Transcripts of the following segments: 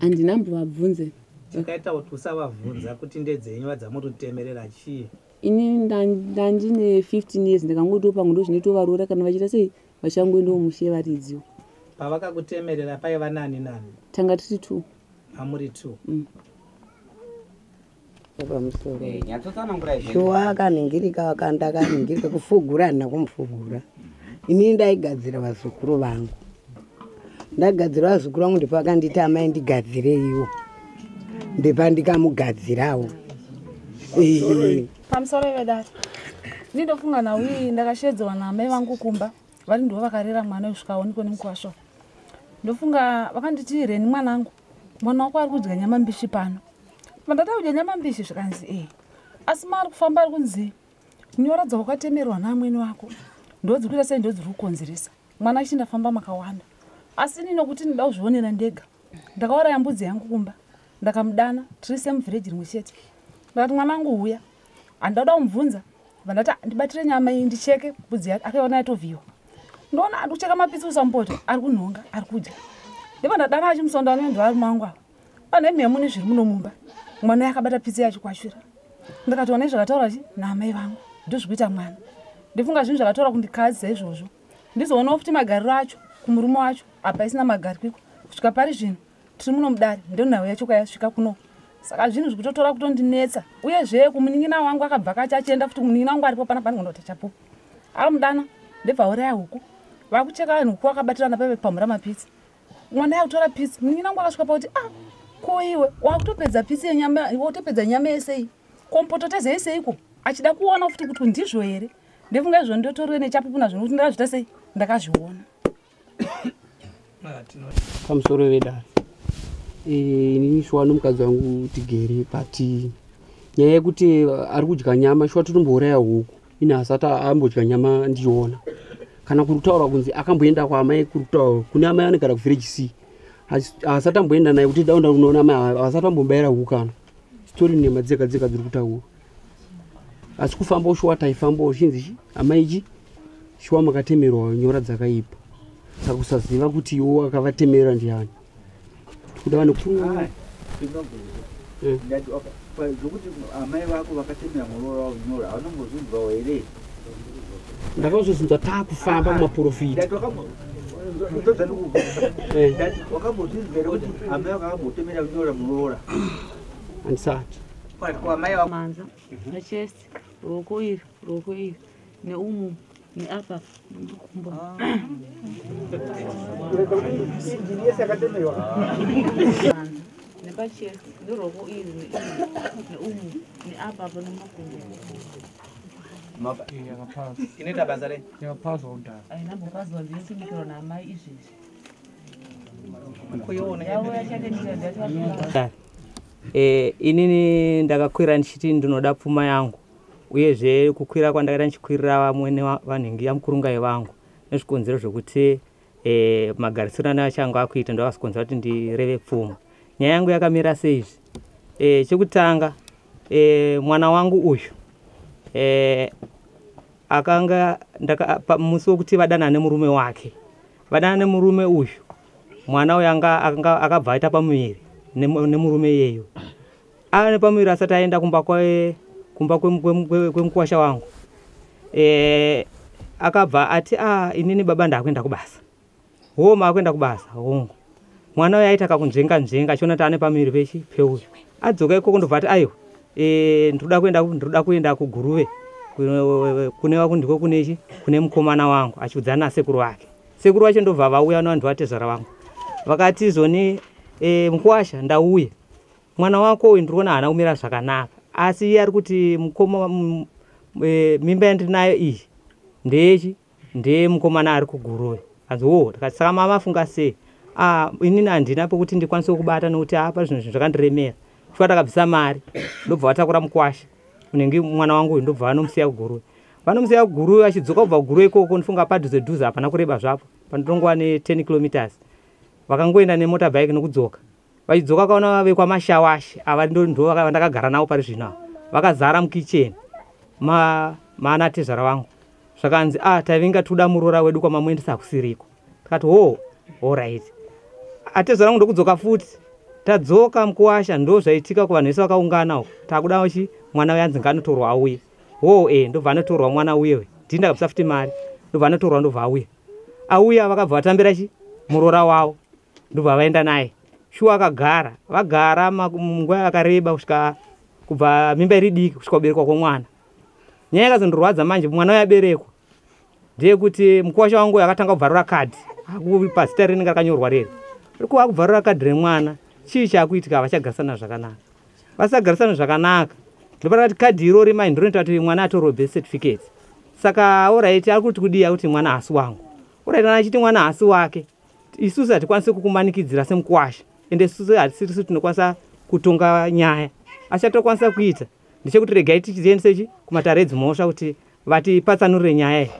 handina mbovabvunze chakaita kuti usavabvunza kuti ndedzenyu vadzamuritemerera chii ini ndandine 15 years ndakangotiwo pamwe ndo zvinotovaroora kana vachiita sei vachangoendawo mushe varidziwo pavakakutemerera paiva nani nani tanga tiri two amuri two mm. pamusoro eh, nyatsotsanangura shuwa akanhingirika akanda akanhingirika kufugura handina kumufugura ini ndaigadzira vazukuru vangu ndagadzira vazukuru vangu ndipo akanditi amai ndigadzireiwo ndepa ndikamugadzirawo pamusoro ive dati ini ndofunga naui ndakashedzewa naamai vangu kumba vari ndivo vakarera mwana wesvikaoniko nemukwasho ndofunga vakanditi reni mwanangu mwana wako ari kudya nyama mbishi pano mandada kudya nyama mbishi zvikanzi ee asi maari kufamba ari kunzi nyora dzawakatemerwa naamwene wako ndodzi kuita sei ndodzi ri kukonzeresa mwana achi ndafamba makawanda asi ini nokuti ndida kuzvionera ndega ndakauraya mbudzi yangu kumba ndakamudana tiri semuvhireji rimwe chete ndakati mwana angu huya handauda kumubvunza vandati ndibatire nyama iyi ndicheke budzi yake akaiona yatovhiyiwa ndoona ari kucheka mapitsi usamupota ari kunhonga ari kudya ndevandadana achimusondo anoendwa ari mangu avo pane mhemu nezviri muno mumba mwana yakabata pitsi yacho kwashura ndakatoona izvakataura chi naamai vangu ndozvikuita mwana ndifunga zvinhu zvakataura kundikadzisa izvozvo ndizoonawo futi magariro acho kumurume wacho apa isina magarikiko kusvika pari zvino tiri muno mudare ndonhau yacho kwayasvika kuno saka zvinhu zvikutotora kutondinetsa uye zvee kumunin'ina wangu akabva kacho achienda futi kumunin'ina wangu aripo pana panhu kunoti chapo ava mudana ndebvauraya huku vakucheka vanhu huku vakabatirana pave kupamhura mapitsi mwana yakutora pitsi munin'ina wangu akasvika pakuti a ah, ko iwe wakutopedza pitsi yenyama wakutopedza nyama yesei kompoto teze yeseiko achida kuona futi kuti ndizvo here ndefunga izvo ndotorwe nechapupu nazvo nokuti ndakazvita sei ndakazviona pamusoro vedare eh, inini shuwa nomukadzi wangu tigere but nyaya yekuti ari kudya nyama shuwa totombouraya huku ini hasati ambodya nyama ndichiona kana kuri kutaura kunzi akamboenda kwaamai kuri kutaura kune amai anogara kuvillage c hasati amboenda naye kuti daunda unoona amai hasati ambobaira huku kana story nema dzega dzega dziri kutaura asi kufamba ushuwa taifamba uchinzi chi amai chi shuwa makatemerwa nyora dzakaipa saka kusaziva kuti iwo akavatemera ndiani tikuda vane zvokuti amai vako vakatemera muroora wavo nyora haunongozvinzwawo here ndakazozinzwa taakufamba kumaprofita wakambozvinzwa here kuti amai vako vakambotemera kunyora muroora andisati manza pachest ruoko iri ruoko iri neumu neapa nemakumbo nepachest neruoko iri neumu neapa apa nemakumbo inoita basa rei inapopazwa ndiyo sinikiro naamai izvezvi Eh, inini ndakakwira ndichiti ndinoda pfuma yangu uyezve kukwira kwandakaita ndichikwirira vamwene vanhu ingiya mukurungai vangu nezvikonzero zvekuti eh, magarisiro ane vachange akuita ndovasikonzera kuti ndireve pfuma nyaya yangu yakamira seizvi eh, chekutanga mwana wangu uyu akanga musi wekuti vadana nemurume wake vadana nemurume uyu mwana uyu akabva aita pamuviri nemurume iyeyo ava nepamuviri asati aenda kumba kumba kwemukwasha wangu e, akabva ati a ah, inini baba ndakuenda kubasa hoo maakuenda kubasa hongu mwana uyo aita kakunzvenga nzvenga achiona kuti ane pamuviri pechi peuyu adzoka ikoko ndobva ati aiwa e, ndikuda kuenda ndikuda kuenda kuguruve kune vakundiko kunechi kune mukomana wangu achiudzana nasekuru vake sekuru vacho ndobva vauya navanhu vatezvara vangu vakati izoni e, mukwasha ndauya mwana wako uyu ndiriona haana kumira zvakanaka asi iye ari kuti mukoma e, mimba yandiri nayo iyi ndeyechi ndiye mukomana ari kuguruve anzi wo oh, tikati saka mama afunga sei ah, inini handina pokuti ndikwanise kubata nokuti apa ah, zvino zvinhu zvakandiremera chikuva takabvisa mari ndobva vatakura mukwasha unenge mwana wangu uyu ndobva vanomusiya kuguruve vanomusiya kuguruve vachidzoka kubva kuguruve ikoko ndifunga padhuze dhuze hapana kureba zvapo panotongova ne10 kilometers vakangoenda nemota bike nokudzoka vachidzoka vakaona vave kwamashawashe ava ndo vandakagara navo pari zvino ava vakazara mukicheni maana tezvara vangu zvakanzi a ah, tavinga tuda muroora wedu kwamamuendesa hakusiriko tikati hoo orit atezvara vangu ndokudzoka futi tadzoka mukuwasha ndo zvaitika kuvanhu vese vakaungana uko takuda uchi mwana uye anzi ngaanotorwa auye hoo e ndobva anotorwa mwana uye we dhinda kabisa futi mari ndobva anotorwa ndobva auye auya vakabva vatambira chi muroora wavo ndobva vaenda naye shuwa akagara vagara munguva yakareba kusvika kubva mimba iri diki kusvika kuberekwa kwomwana nyaya yakazondorwadza manje mwana uyo aberekwa ndeyekuti mukwasha wangu akatanga kubvarura kadhi pazita rinenge rakanyorwa riri rikuva akubvarura kadhi remwana chii chaakuitika havachagarisana zvakanaka vasagarisana zvakanaka ndopa rakati kadhi irori mai ndinoita kuti mwana atorwe birth certificate saka oraiti ari kuti kudii akuti mwana haasi wangu oraiti kana achiti mwana haasi wake isusu hatikwanisi kukumanikidzira semukwasha ende isusu hatisisu tinokwanisa kutonga nyaya asi chatokwanisa kuita ndechekuti regai tichiendisechi kumatare edzimhosva kuti vatipatsanurire nyaya iyi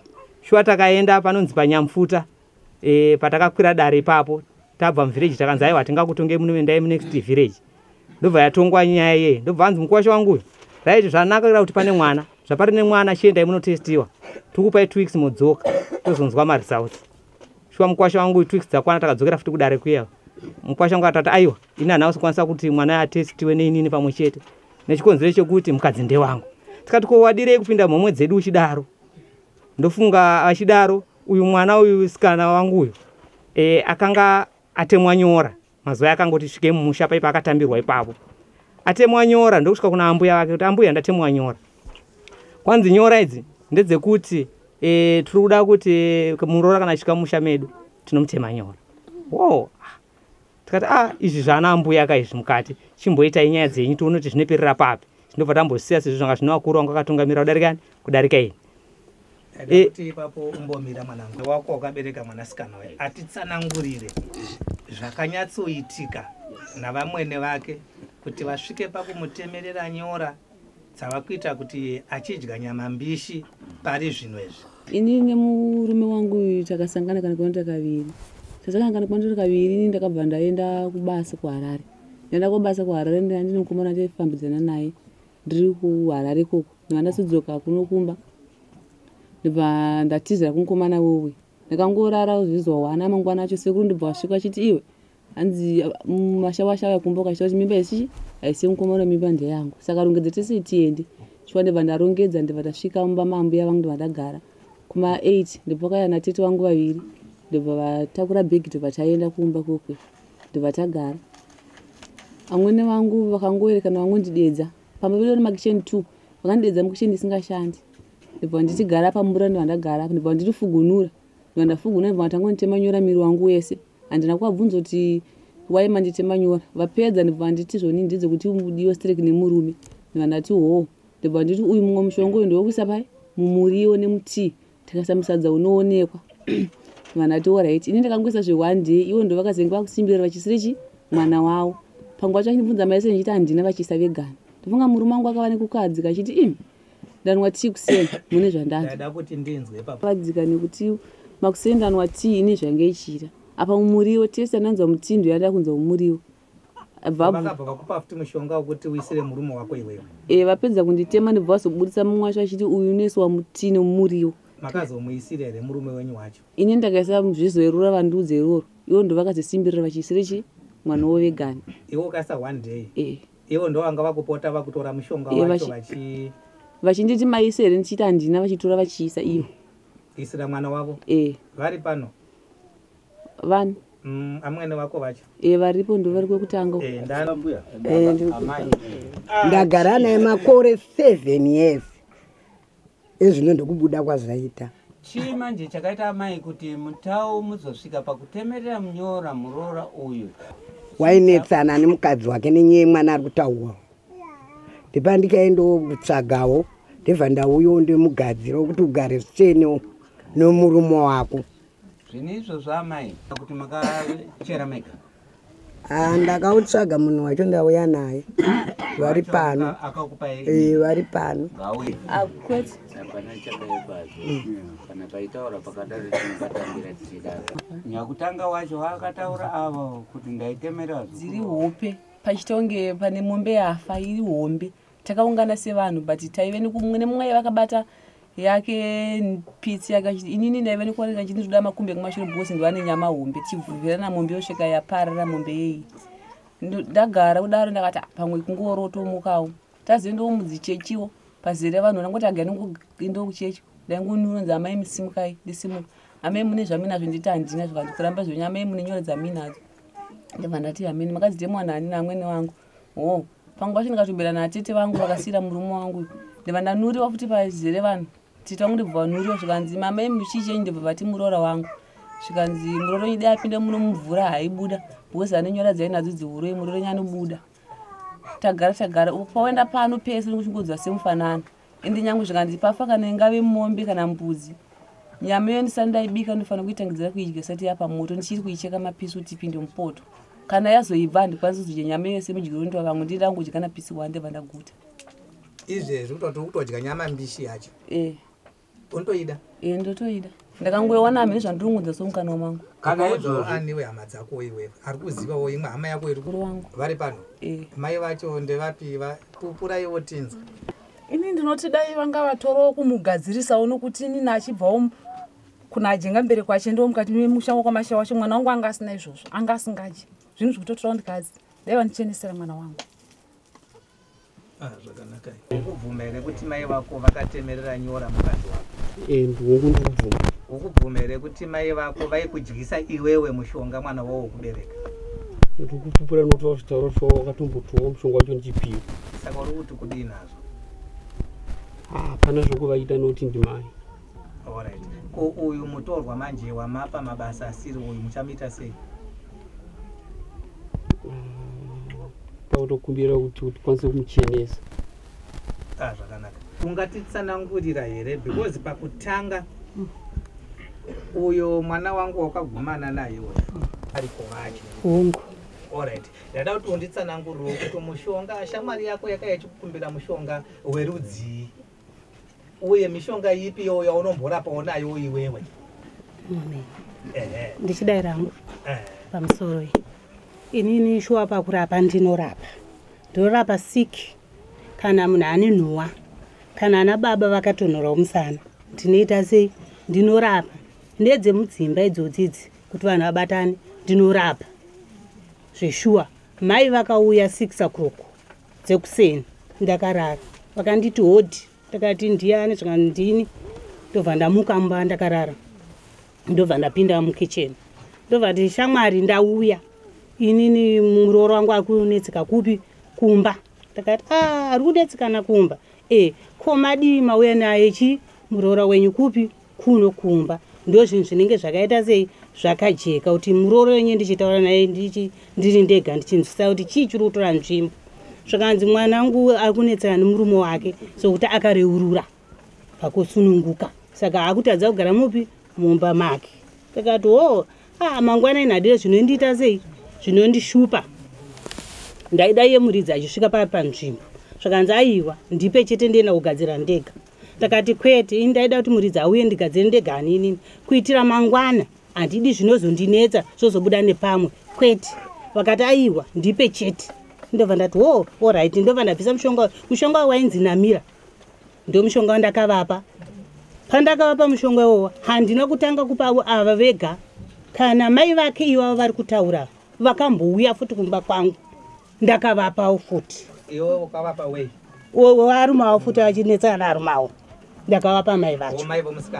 shuwa takaenda panonzi panyamfuta e, patakakwira dare ipapo tabva muvhireji takanzi aiwa tingakutonge munoendai munext vhireji ndobva yatongwa nyaya iyeye ndobva anzi mukwasha wanguyo raiti zvanakira kuti pane mwana zvapari nemwana chiendai munotestiwa tikupai two weeks modzoka tozonzwa maresults shuwa mukwasha wangu twix dzakwana takadzokera futi kudare kuya mukwasha wangu atati aiwa ini hana kusakwanisa kuti mwana atestiwe neinini pamwe chete nechikonzero chekuti mukadzi ndewangu tikati ko wadirei kupinda mhomwe dzedu uchidaro ndofunga achidaro uyu mwana uyu sikana wangu uyu e, akanga atemwa nyora Mazuva akangoti svike mumusha paipa akatambirwa ipapo. Atemwa nyora ndokusvika kuna ambuya vake kuti ambuya ndatemwa nyora. Kwanzi nyora idzi ndedzekuti e, tiri kuda kuti eh, muroora kana achika musha medu tinomutema nyora. Wo. Tikati ah izvi zvana ambuya ka izvi mukati chimboita inyaya dzenyu tione kuti zvinoperera papi. Ndobva tambosiya sezvo zvanga zvino vakuru vanga vakatungamira kudarika kudarika ini. Eh. kuti ipapo umbomira mwanangu wako wakabereka mwanasikana waye atitsanangurire zvakanyatsoitika navamwene vake kuti vasvike pakumutemerera nyora dzava kuita kuti achidya nyama mbishi pari zvino izvi ini nemurume wangu uyu takasangana kana kwanota kaviri tasangana kana kwanota kaviri ini ndakabva ndaenda kubasa kuharare ndaenda kubasa kuharare ndandine mukomana taifambidzana naye ndiri kuharare ikoko ndibva ndasudzoka kuno kumba ndibva ndatizira kumukomana wewe ndakangorara zvizuva wana mangwana acho sekuru ndibva wasvika achiti iwe hanzi mm, mashawasha aya kumba ukachita kuti mimba isichi haisi mukomana mimba ndeyangu saka rongedza tese tiende chiwa ndibva ndarongedza ndibva tasvika mumba mambuya vangu ndibva ndagara kuma 8 ndibva kaya natete vangu vaviri ndibva vatakura bhegi ndibva taenda kumba kokwe ndobva tagara amwene vangu vakangoerekana vangondidedza pamba vedu vari makitchen two vakandidedza mukitchen isingashandi ndobva ndichigara pamura ndobva ndagara ndobva vandichifugunura ndobva ndafugunura ndobva vatanga kunditema nyora miri wangu wese handina kuvabvunza kuti wai manditema nyora vapedza ndobva vanditi zvoni ndidzo kuti udiwe strek nemurume ndobva ndati hoo ndobva nditi uyu mumwe mushonga uyu ndovekuisa pai mumuriwo nemutii tikasa musadza unoonekwa vanhu ati orit ini ndakangoisa zve one day ivo ndo vakazenge vakusimbirira vachisiri chi mwana wavo panguva yacho vachinibvunza maese ndichiti handina vachiisa vegani ndofunga murume wangu akava nekukadzi kachiti im ndanwa tii kuseni mune zvandaada kuti ndinzwe pakadzika nekuti makuseni ndanwa tii ini zvange ichiita apa mumuriwo tese ananzwa mutindo yandada kunzwa mumuriwo Eh, vapedza kunditema ndibva vazoburitsa mumwe wacho achiti uyu unoiswa mutii nomuriwo makazomuisira here murume wenyu wacho ini ndakaisa zvizoerura vandiudze iroro ivo ndo vakazisimbirira vachiisira chi mwana wo vegani iwe ukaisa one day eh. ivo ndo vanga vakupota vakutora mushonga eh, wacho vachi vachinditi maise here ndichiita handina vachitora vachiisa ivo isira mwana wavo vari pano vani mm, amwene wako vacho e varipo ndo vari kwekutanga eh, eh, ah, ndagara naye makore seven years ezvino ndokubuda kwazvaita chii manje chakaita amai kuti mutau muzosvika pakutemerera munyora muroora uyu wainetsana nemukadzi wake nenyaya yemwana ari kutaurwa ndipa ndikaendawo kutsvagawo ndibva ndauyawo ndimugadzira wekuti ugare zvichene nomurume wako Zvine izvozvo amai kuti makachera mega. Ah, ndakautsvaga munhu wacho ndauya naye vari pano eh, vari pano ah, nyakutanga wacho vakataura avo kuti ndaitemeradziri hope pachitonge pane mombe yafa iri hombe takaungana sevanhu but taive nekumwe nemumwe aive akabata yake pitsi yake achiti inini ndaive nekuoneka chiti ndikuda makumbi ekumashure because ndivane nyama hombe tichibvuvirana mombe yosvika yaparara mombe yeyi ndagara kudaro ndakati ah, pamwe kungorotomukawo tazoendawo mudzichechiwo pazere vanhu ndangoti aga ndingoendawo kuchechi ndaingonunonzi amai misimukai ndisimuka amai mune zvaminazvo nditi handina zvikanzi kuramba zvenyu amai mune nyoro dzaminadzo ndibva ndati hamini makadzidemwana hanina amwene wangu oh pangu pacho ndikatobira natete vangu vakasiira murume wangu ndiva ndanuriwa futi pazere vanhu tete vangu ndibva vanuriwa zvikanzi mama imi muchichenyi ndibva vati muroora wangu zvikanzi murooro nyidi apinde muno mumvura haibuda because anenyora dzainadzo dziuroi murooro nyanobuda tagara tagara pawaenda pano pese nekuchingodzwa semufanana ende nyangwe zvikanzi pafa kana ingave mombe kana mbudzi nyama iyo ndisati ndaibika ndofanira kuitangidzira kuidya sati yapa moto ndichiri kuicheka mapisi kuti ipinde mupoto kana yazoibva handikwanisi kuzodya nyama iyo semudyo unoitwa vamwe ndiri angu kudya napisi wande vandaguta izvezvi kutoti kutodya nyama mbishi yacho e. unotoida e, ndotoida ndakangoiwana hamene zvandirungudza somukanwa mangu kana izvozvoaniwe hama dzako iwe ari kuzivawo imwe hama yako iri wangu vari pano e. mai vacho ndevapi vapupuraiwo tinzwa ini ndinoti dai vanga vatorawo kumugadzirisawo nokuti inini achibvawo kuna ajenga mbere kwache ndiwo mukati memusha wakwamasha wacho mwana wangu anga asina izvozvo anga asingadye zvinhu zvikutotorawo ndikazi dai vandichenesera mwana wangu Ah, zvakanaka ukubvuma here kuti mai vako vakatemerera nyora mukadzi wako eh, ndiwongu ndikubvuma ukubvuma here kuti mai vako vaikudyisa iwewe mushonga mwana wavo wokubereka ndikupupura notaura zvitauro so wakatombotiwa mushonga wacho ndichipiwa saka uri kuti kudii nazvo hapana ah, zvokuvaita noti ndimai Alright. Ko uyu mutorwa manje wamapa mabasa asiri uyu muchamuita sei? Tautokumbira mm, kuti tikwanise kumuchenesa. Ah, zvakanaka. Ungatitsanangurira here because pakutanga uyo mwana wangu wakagumana naye uyo ari kuvacho. Hongu. Alright. Ndada kuti unditsanangurire kuti mushonga shamwari yako yakaya chikukumbira mushonga werudzii? uye mishonga ipi iyo yaunomborapawo nayo iwewe ndichidai rangu pamusoro iyi inini shuwa pakurapa ndinorapa ndinorapa sik kana munhu ane nhuwa kana ana baba vakatonhorawo musana ndinoita sei ndinorapa ndedzemudzimba idzodzidzi kuti vanhu vabatane ndinorapa zveshuwa mai vakauya six o'clock dzekuseni ndakarara vakanditi hodhi ndakati ndiyani zvika ndini ndobva ndamuka mba ndakarara ndobva ndapinda mukitchen ndobva ti shamwari ndauya inini murooro wangu ari kunetseka kupi kumba ndakati a ah, ari kunetsekana kumba e ko madii mauya naye chi muroora wenyu kupi kuno kumba ndozvinhu zvinenge zvakaita sei zvakajeka kuti murooro wenyu ndichitaura naye ndiri ndega ndichinzwisisa kuti chii chiri kutora nzvimbo zvakanzi mwana wangu ari kunetsana nemurume wake sokuti akareurura pakusununguka saka akutadza kugara mupi mumba make takati o oh, ah, mangwana inadire zvinondiita sei zvinondishupa ndaida iye muridzi achisvika paa panzvimbo zvakanzi aiwa ndipe chete ndienda kugadzira ndega ndakati kwete ini ndaida kuti muridzi auye ndigadzire ndega aninini kuitira mangwana handidi zvinozondinetsa zvozobuda nepamwe kwete vakati aiwa ndipe chete ndobva ndati wo orit ndobva ndabvisa mushonga mushonga wo wainzi namira ndomushonga wandakavapa pandakavapa mushonga iwowo handina kutanga kupavo ava vega kana mai vake ivavo vari kutaura vakambouya futi kumba kwangu ndakavapawo futi iwe ukavapa wei waarumawo futi vachinetsana naarumawo ndakavapa mai vacho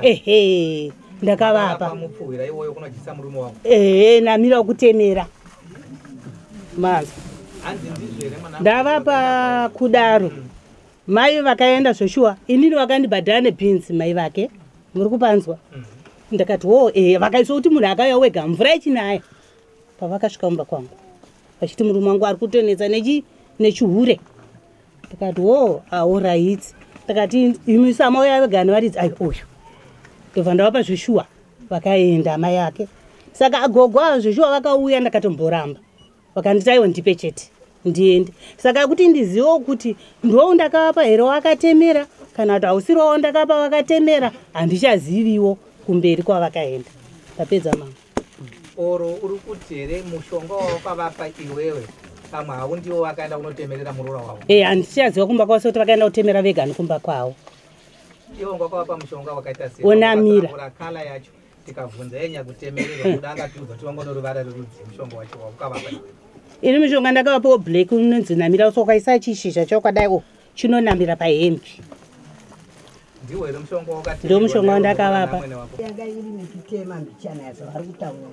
ehe ndakavapa ehe namira wekutemera mazwa ndavapa kudaro mm. mai vakaenda zveshuwa inini vakandibhadhara nebhinzi mai vake muri kupanzwa mm. ndakati wo e vakaiswa kuti munhu akauya wega mvura ichinaya pavakasvika kumba kwangu vachiti murume wangu ari kutonetsa nechi nechihure ndikati wo aoraiti ndikati imisa amai yave gani varidzi ayo uyu ndobva ndavapa zveshuwa vakaenda amai ake saka agogo avo zveshuwa vakauya ndakatomboramba vakanditi aiwa ndipe chete ndiende saka kuti ndizivewo kuti ndoo ndakavapa here wakatemera kana kuti hausirowo ndakapa vakatemera handichaziviwo kumberi kwavakaenda ndapedza mama oro uri kuti here mushonga wawakavapa iwewe pamwe hau ndiwo wakaenda kunotemerera muroora wavo e eh, handichaziva kumba kwavo sekuti vakaenda kutemera vega nikumba kwavo iwo ngwakavapa mushonga wakaita seonamira kala yacho tikabvunza yenya kutemerera kuda angatiudza kuti wangono ruvara rerudzi mushonga wacho waukavapa ini mishonga ndakavapawo black unonzi namira usokaisa chishizha chokadai o oh. chinonamira pahembi ndiwo mushonga wandakavapa yanga iri mititema mbichana yazo vari kutaura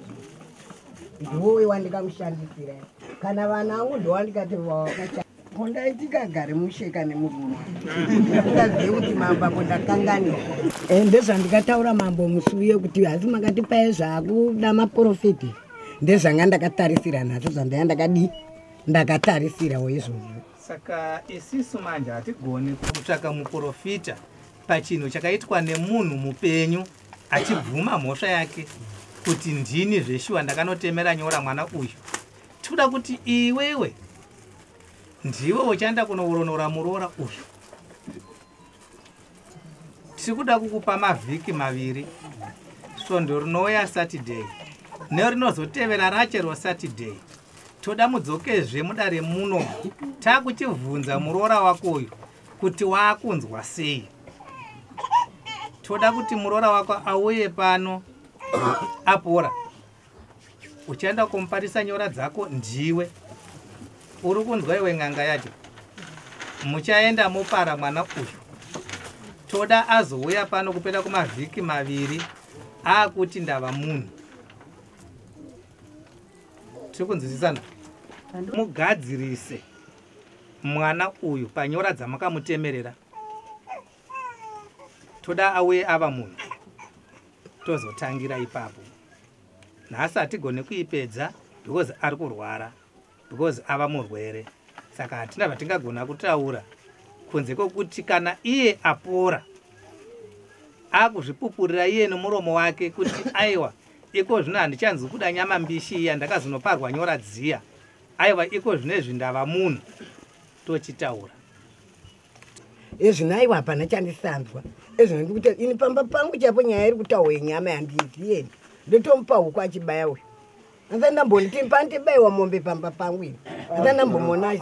ndiwowe wandikamushandisira kana vana angu ndowandikati kondaitikagare musheka nemurume ndazive kuti mambo ako ndakanganira eh, ndezvandikataura mambo musi uye kuti hasi makati paye zvakuda maprofiti ndezvanga ndakatarisira nhasi zvandaya ndakadii ndakatarisirawo izvozvo saka isisu manje hatigoni kutsvaka muprofita pachinhu chakaitwa nemunhu mupenyu achibvuma mhosva yake kuti ndini zveshuwa ndakanotemera nyora mwana uyu tikuda kuti iwewe ndiwe uchaenda kunouronora muroora uyu tiri kuda kukupa mavhiki maviri svondo rinouya saturday nerinozotevera rache rosaturday toda mudzokezve mudare muno takuchibvunza muroora wako uyu kuti waakunzwa sei toda kuti muroora wako auye pano apora uchaenda kumuparisa nyora dzako ndiwe uri kunzwa iwe n'anga yacho muchaenda mopara mwana uyu toda azouya pano kupera kumavhiki maviri akuti ndava munhu tiri kunzwisisana mugadzirise mwana uyu panyora dzamakamutemerera toda auye ava munhu tozotangira ipapo nhasi hatigone kuipedza because ari kurwara because ava murwere saka hatina vatingagona kutaura kunze kwekuti kana iye apora akuzvipupurira iye nomuromo wake kuti aiwa iko zvino handichanzi kuda nyama mbishi iya ndakazonoparwa nyora dziya aiwa iko zvino izvi ndava munhu tochitaura ezvino aiwa hapana chandisanzwa ezvino ndikuti ini pamba pangu chaipo nyaya iri kutaurwa yenyama yandiizieni ndotomupa huku achibaya uyu asa ndamboniti pandibaiwa mombe pamba pangu ini asa ndambomona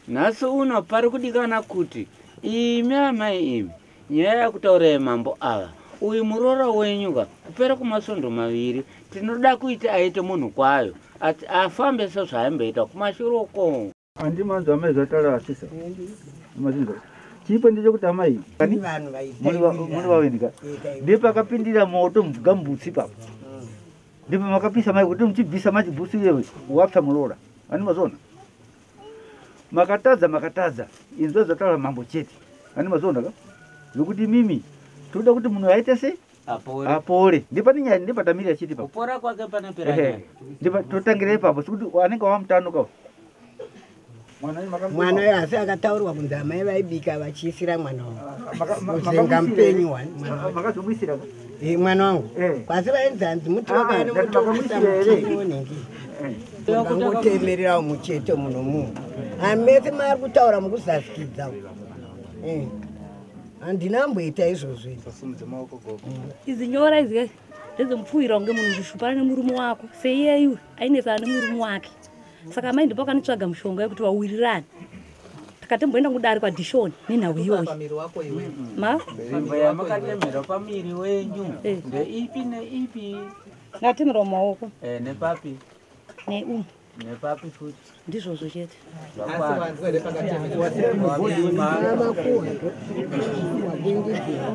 nhasi uno pari kudikana kuti imi amai imi nyaya yakutaura yemambo ava uyu muroora wenyu ka kupera kumasvondo maviri tinoda kuita aite munhu kwayo ati afambe sezvaaimboita kumashure ukongo Andi manzo amai zvatala asisa. Mazinzo. Chipo ndicho kuti amai. Kani vanhu vaita. Muri va muri va wendika. Ndipo akapindira moto mvuga mbutsi papa. Mm. Ndipo makapisa mai kuti mchibvisa machi busi yewe wapsa mulora. Ani mazona. Makatadza makatadza. Inzwa zvatala mambo chete. Ani mazona ka? Zvokuti mimi. Toda kuti munhu aite sei? apore apore ndipane nyaya ndipatamiri achiti pa kupora kwake panopera nyaya ndipa totangire ipapo sikuti anenge wamutanuka mwana uyo asi akataurwa kunzi amai vaibika vachiisira mwana wanguzenga mupenyu wani eh, mwana wangu eh. kwasi vainzi hanzi muti ah, wakani mutokuisa mutei wonhingi angotemererawo muchete muno munhu amese maari kutaura mukuzasikidza eh. handina amboita izvozvo izi nyora izi kai ndedzomupfuhira kunge munhu ndishupana nemurume wako seiyeiwe ainesana nemurume wake saka amai ndipo akanitsvaga mushonga yekuti vawirirane takatemboenda kudari kwadishoni nenhau iyoyi eh. ngatemerwa maoko eh, neumu nepapi futi ndizvozvo chete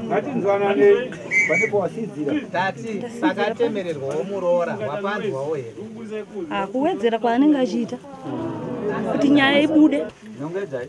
ngatinzwananei panepo wasidzira tati pakatemererwawo muroora wapanzwawo here ah, kuwedzera kwaanenge achiita kuti nyaya ibude nongedzai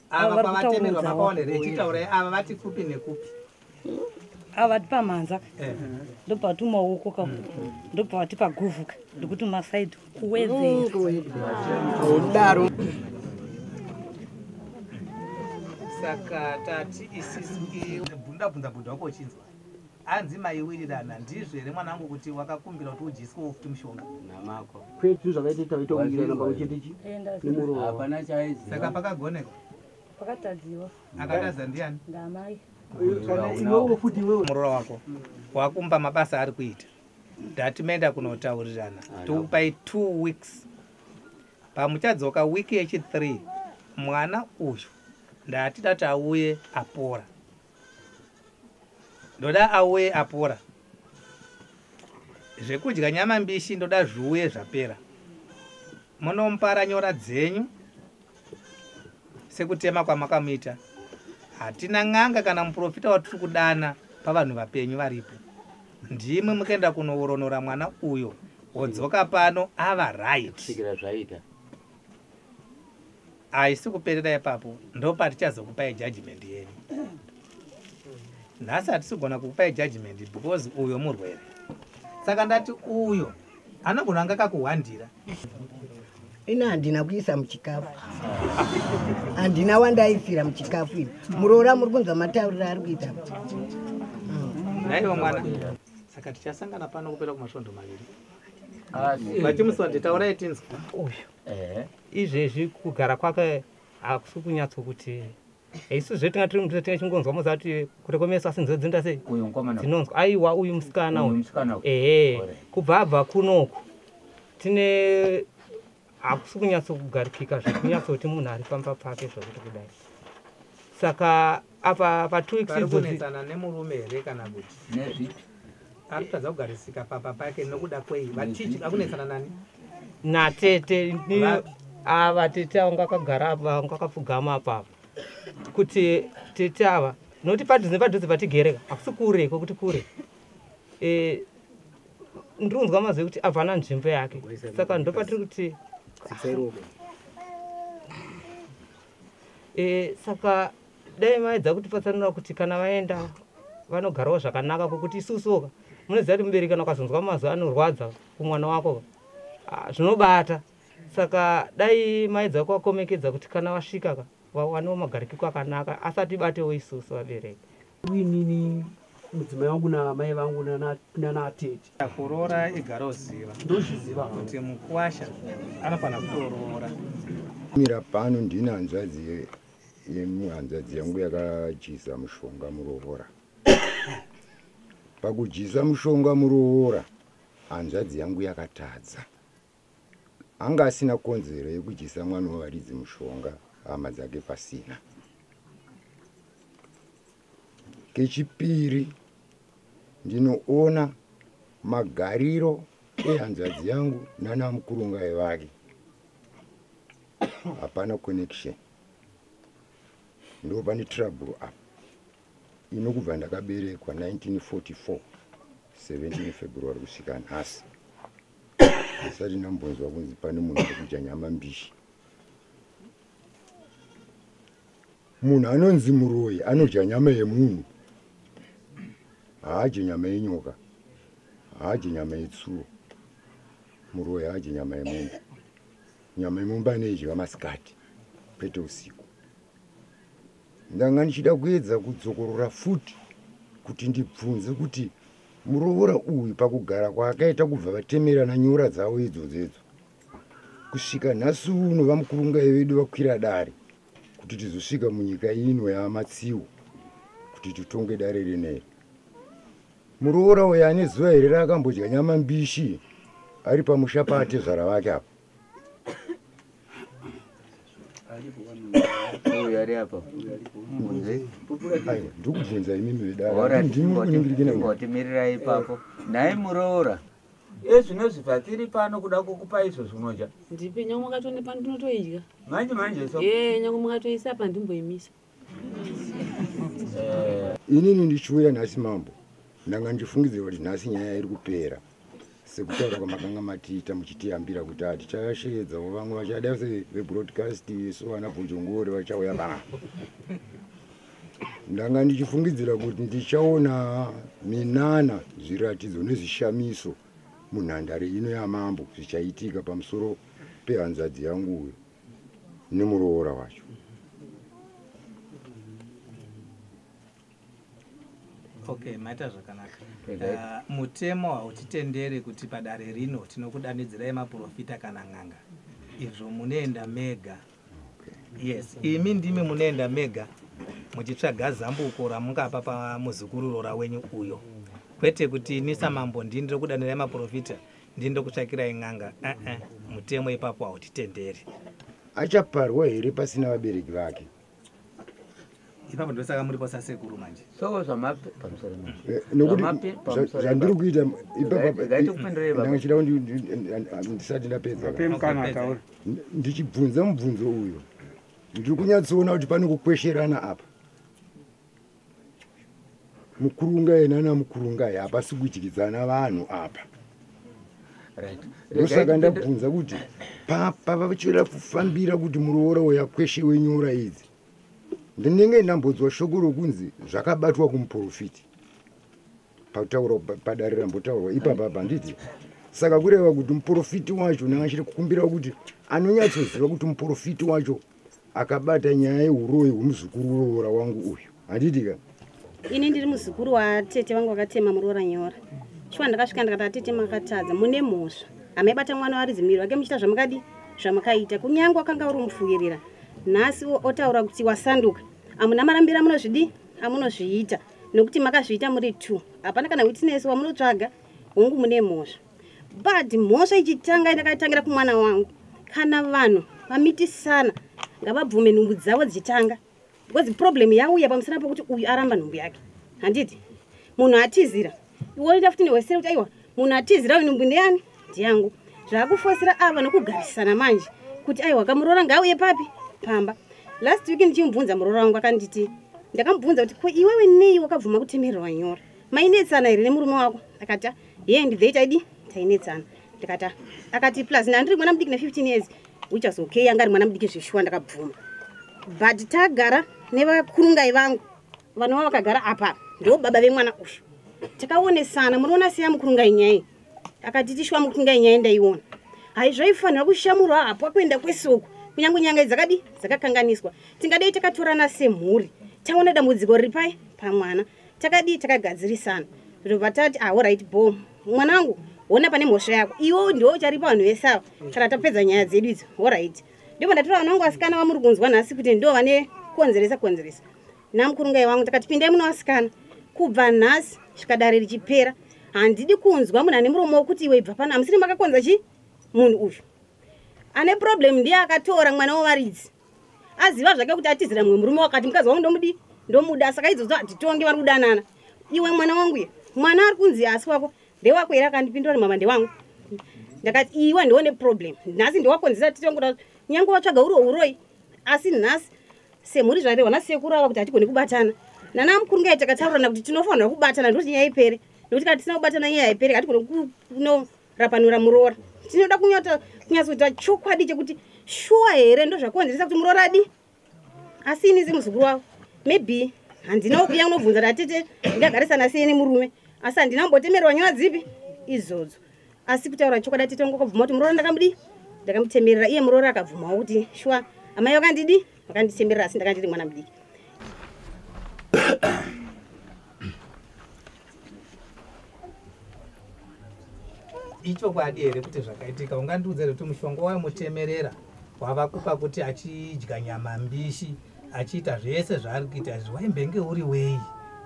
ava pavatemerwa makaona here chitaura ava vati kupi nekupi ava vati pamhanza eh. ndopavati maoko ka ndopavati paguvuka ndikuti masaidi kuwedzeodaro saka tati isisbundabundabunda wako uchinzwa Hanzi maiwirirana ndizvo here mwanangu kuti wakakumbira kuti udyiswewo futi mushonga? Namako. Kwetu zvakaita kuti taita kuwirirana pakuchete chi nemuroora. Hapana chaiziva. Saka pakagoneka? Pakatadziwa. Akatadza ndiani? Ndamai. Iwewo futi iwewo. Muroora wako. Wakumba mabasa ari kuita. Ndati menda kunotaurirana. Tokupai 2 weeks. Pamuchadzoka week yechi 3 mwana uyu ndati dati auye apora. ndoda auye apora zvekudya nyama mbishi ndoda zviuye zvapera munompara nyora dzenyu sekutema kwamakamuita hatina n'anga kana muprofita watiri kudana pavanhu vapenyu varipo ndimwe mukaenda kunoworonora mwana uyo wodzoka pano ava right haisi kuperera ipapo ndopatichazokupai judgment yenu nhasi hatisi kugona kukupai judgment because uyo murwere saka ndati uyo anogona anga kakuhwandira ini handina kuisa muchikafu handina wandaisira muchikafu ini muroora muri kunzwa mataurira ari kuita naiwo mwana saka tichasangana pano kupera kumasvondo maviri vachimuswati taurai tinzwa uyu izvezvi kugara kwake hakusi kunyatso kuti isu zve tinga tiri muthu tinga chingonzwa moza kuti kurekomesa asi nzwe dzinda sei dzinonzwa aiwa uyu musikana uyu ehe kubva abva kunoku tine hakusi kunyatsokugarikika zvekunyatsoti munhu ari pamba pake zvokuti kudai saka apa patwo weeks idzodzinetsana nemurume here kana kuti nezvipi ari kutadza kugarisika papa pake nokuda kwei vatichi akunetsana nani natete ava tete avo ngakagara apo avo ngakapfugama apo avo kuti tete ava nokuti padhuze padhuze patigereka hakusi kure kwekuti kure e, ndiri kunzwa mazwi kuti avana nzvimbo yake saka ndopatiri kuti e, saka dai maedza kuti patsanura kuti kana vaenda vanogarawo zvakanaka kokuti isusuka munoziva kuti mubereki kana ukazonzwa mazwi anorwadza kumwana wako ah, zvinobata saka dai maedza kuvakomekedza kuti kana vasvika ka vawanewo magarikiko akanaka asati batewo isusu vabereki inini mudzimai wangu namai vangu nanaatete kuroora igara uziva ndozviziva kuti mukwasha anofanira kutoroora mira pano ndine hanzvadzi yemuhanzvadzi yangu yakadyisa mushonga muroora pakudyisa mushonga muroora hanzvadzi yangu yakatadza anga asina konzero yekudyisa mwana wevaridzi mushonga hama dzake pasina kechipiri ndinoona magariro ehanzvadzi yangu nana mukurungai vake hapana connection ndo pane trouble apa ino kubva ndakaberekwa 1944 17 february kusvika nhasi asati ndambonzwa kunzi pane munhu ari kudya nyama mbishi munhu anonzi muroyi anodya nyama yemunhu haadye nyama yenyoka haadye nyama yetsuro muroyi haadye nyama yemombe nyama yemombe anoidya masikati kwete usiku ndanga ndichida kuedza kudzokorora futi kuti ndibvunze kuti muroora uyu pakugara kwaakaita kubva vatemerana nyora dzavo idzodzo idzo kusvika nhasi uno vamukurungai vedu vakwira dare kuti tizosvika munyika ino yamatsiwo kuti titonge dare rineri muroora uyo ane zuva here raakambodya nyama mbishi ari pamusha paatezvara vake apa uyo ari apa ndikubvunza imimi vedaotimirirai ipapo nhai muroora ezvino zviva tiri pano kuda kukupa izvo zvinoja ndipe nyange mukatonipa ndinotoidya manje manje so e nyange mukatoisa pandimboimisa eh. inini ndichiuya nhasi mambo ndanga ndichifungidzira kuti nhasi nyaya iri kupera sekutaura kwamakanga matiita muchitiyambira kuti hatichasheedzawo vamwe vachada sevebroadcast so vana bhojongori vachauya vana ndanga ndichifungidzira kuti ndichaona minana zviratidzo nezvishamiso munhandare ino yamambo zvichaitika pamusoro pehanzvadzi yangu uyo nemuroora wacho okay maita zvakanaka uh, mutemo hautitendere kuti padare rino tinokudanidzirai maprofita kana n'anga izvo munoenda mega yes imi ndimi munoenda mega muchitsvaga zambuko ramungapa pamuzukururora wenyu uyo kwete kuti ini samambo ndini rokudanirai maprofita ndini ndokutsvakirai n'anga uh-uh. mutemo ipapo hautitenderi achaparwa here pasina vabereki vake ipapo ndosaka muri posa sekuru manje soo zvamapi pamusoro eh, nokuti zvandiri kuita ipapandangachida kuti ndisati ndapedza ndichibvunza mubvunzo uyo ndiri kunyatsoona kuti pane kukwesherana apa mukurunga yena namukurunga hapasi kudyidzana vanhu apa ndosaka ndabvunza kuti pavachoda kufambira kuti muroora uya kweshe wenyora idzi ndinenge ndambodzwa shoko rokunzi zvakabatwa kumuprofiti pakutaurwa padare rambotaurwa ipapa panditi saka kureva kuti muprofiti wacho naachiri kukumbira kuti anonyatsoziva kuti muprofiti wacho akabata nyaya yeuroyi hwemuzukuru weroora wangu uyu handiti ka ini ndiri muzukuru watete vangu vakatema muroora nyora shuwa ndakasvika ndikati atete makatadza mune mhosva hamaibata mwana waridzi muviri wake muchita zvamakadi zvamakaita kunyange wakanga uri mupfuvirira nhasi otaura kuti wasanduka amuna marambira munozvidii amunozviita nokuti makazviita muri two hapana kana witness wamunotsvaga hongu mune mhosva but mhosva ichitanga ndakatangira kumwana wangu kana vanhu vamitisana ngavabvume nhumbu dzavo dzichitanga because problem yauya pamusana pokuti uyu aramba nhumbu yake handiti munhu atizira iwoita futi newesere kuti aiwa munhu atizira uyu nhumbu ndeyani ndiyangu zvaakufosira ava nokugarisana manje kuti aiwa kamuroora ngauye papi pamba last week ndichimubvunza muroora wangu akanditi ndakamubvunza kuti ko iwewe nei wakabvuma kutemererwa nyora mainetsana here nemurume wako akati ye ndidhei taidi tainetsana ndikati akati plus nandiri mwana mudiki ne15 years which was okay yanga ari mwana mudiki zveshuwa ndakabvuma but tagara nevakurungai vangu vanova vakagara apa ndo baba vemwana uyu takaonesana munoona seya mukurungai nyai akati tishuwa mukurungai nyai ndaiona hai zvaifanira kushamurwa hapwa kuenda kwesoko kunyange nyanga dzakadi dzakakanganiswa tingadei takatorana semhuri taona dambudziko riri pai pamwana takadii takagadzirisana ndobva tati ah orit bom mwana wangu hona pane mhosva yako iwo ndiwo ucharipa vanhu vese ava kana tapedza nyaya dzedu idzo orit ndibva ndatora vana vangu vasikana vamuri kunzwa nhasi kuti ndo vane konzeresa konzeresa namukurungai wangu takati pindai muno vasikana kubva nhasi svikadare richipera handidi kunzwa munhu ane muromo wokuti iwe ibva pano hamusiri makakonza chi munhu uyu ane problem ndiye akatora mwana wevaridzi aziva zvake kuti atizira mumwe murume wakati mukadzi wangu ndomudii ndomuda saka idzodzo hatitonge vari kudanana iwe mwana wangu ye mwana ari kunzi asi wako ndewako here akandipindura nemama ndewangu ndakati iwe ndiwo neproblem nhasi ndewakonzera titongoda nyange watsvaga uriwo uroi asi nhasi semhuri zvarehwa nhasi sekuru ava kuti hatigoni kubatana nana mukuru ngai takataurirana kuti tinofanira kubatana ndoti nyaya ipere nekuti kana tisina kubatana nyaya haipere hatigoni no rapanura muroora tinoda kunyata kunyatsoita chokwadi chekuti shuwa here ndozvakonzeresa kuti muroora adi asi ini semuzukuru wavo maybe handina wokuya kunobvunza tatete ndagarisana sei nemurume asi handina kumbotemerwa nyora dzipi izodzo asi kutaura chokwadi atete vangu akabvuma kuti muroora ndakamudii ndakamutemerera iye muroora akabvumawo kuti shuwa amai vakandidii vakanditemerera asi ndakandiri mwana mudiki ichokwadi here kuti zvakaitika ungandiudza here kuti mushonga wayo mutemerera wavakupa kuti achidya nyama mbishi achiita zvese zvaari kuita izvi waimbenge uri wei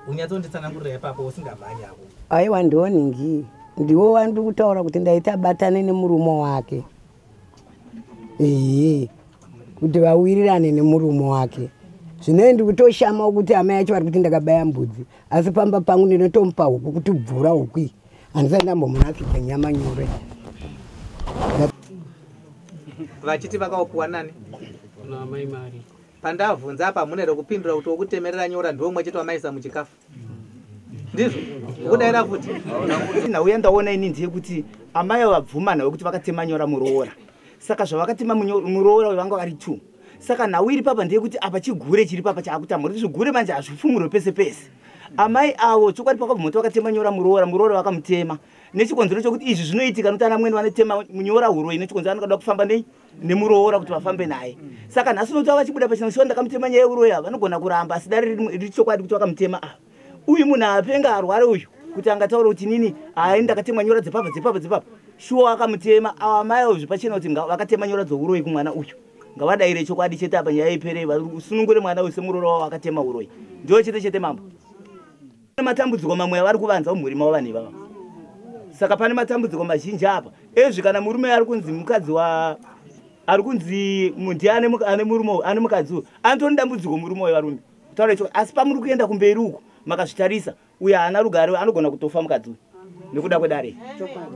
unyatsonditsanangurira ipapo usingamhanyako aiwa ndiwo ningi ndiwo wandiri kutaura kuti ndaita batane nemurume wake ehe kuti vawirirane nemurume wake zvinoe ndikutoshamawo kuti hama yacho vari kuti ndakabaya mbudzi asi pamba pangu ndinotomupa huku kuti bvura hukui handisati ndambomunakidza nyama nyore vachiti vakaopiwa nani pandavhunza apa hamuna here kupindura kuti wokutemerera nyora ndiwo mwe chete wamaisa muchikafu ndizvo ukudaira futi nauya ndaona ini ndiye kuti amai vabvumana wekuti vakatema nyora muroora saka zvavakatema muroora vanga vari two saka nhau iri papa ndeyekuti apa chigure chiri papa chaakutamura kuti zvigure manje hazvifumurwe pese pese amai avo chokwadi pakabvumoti vakatema nyora muroora muroora vakamutema nechikonzero chokuti izvi zvinoitika nokuti ana mweni vanotema nyora huroi nechikonzero anoda kufamba nei nemuroora kuti vafambe naye saka nhasi unoti vavachibuda pachina kushiwa ndakamutema nyaya yeuroya vanogona kuramba asi dare riri chokwadi kuti vakamutema ava uyu munhu apenga arware uyu kuti angataura kuti nini hai ndakatemwa nyora dzepapa dzepapa dzepapa shuwa akamutema awa mai avo zvepachena kuti vakatema nyora dzouroyi kumwana uyu ngavadaire chokwadi chete apa nyaya ipere vasunungure mwana uyu semuroora wavo akatema uroyi ndiwo chete chete mambo Pane matambudziko mamwe avari kuvanza mumhuri mavo vanhu ivava. Saka pane matambudziko mazhinji apa. Ezvi kana murume ari kunzi mukadzi wa ari kunzi mundi ane ane murume ane mukadzi uyu anotone dambudziko murume uyu varume. Kutaura icho asi pamuri kuenda kumberi uku makazvitarisa uye haana rugare anogona kutofa mukadzi uyu nekuda kwedare. Chokwadi.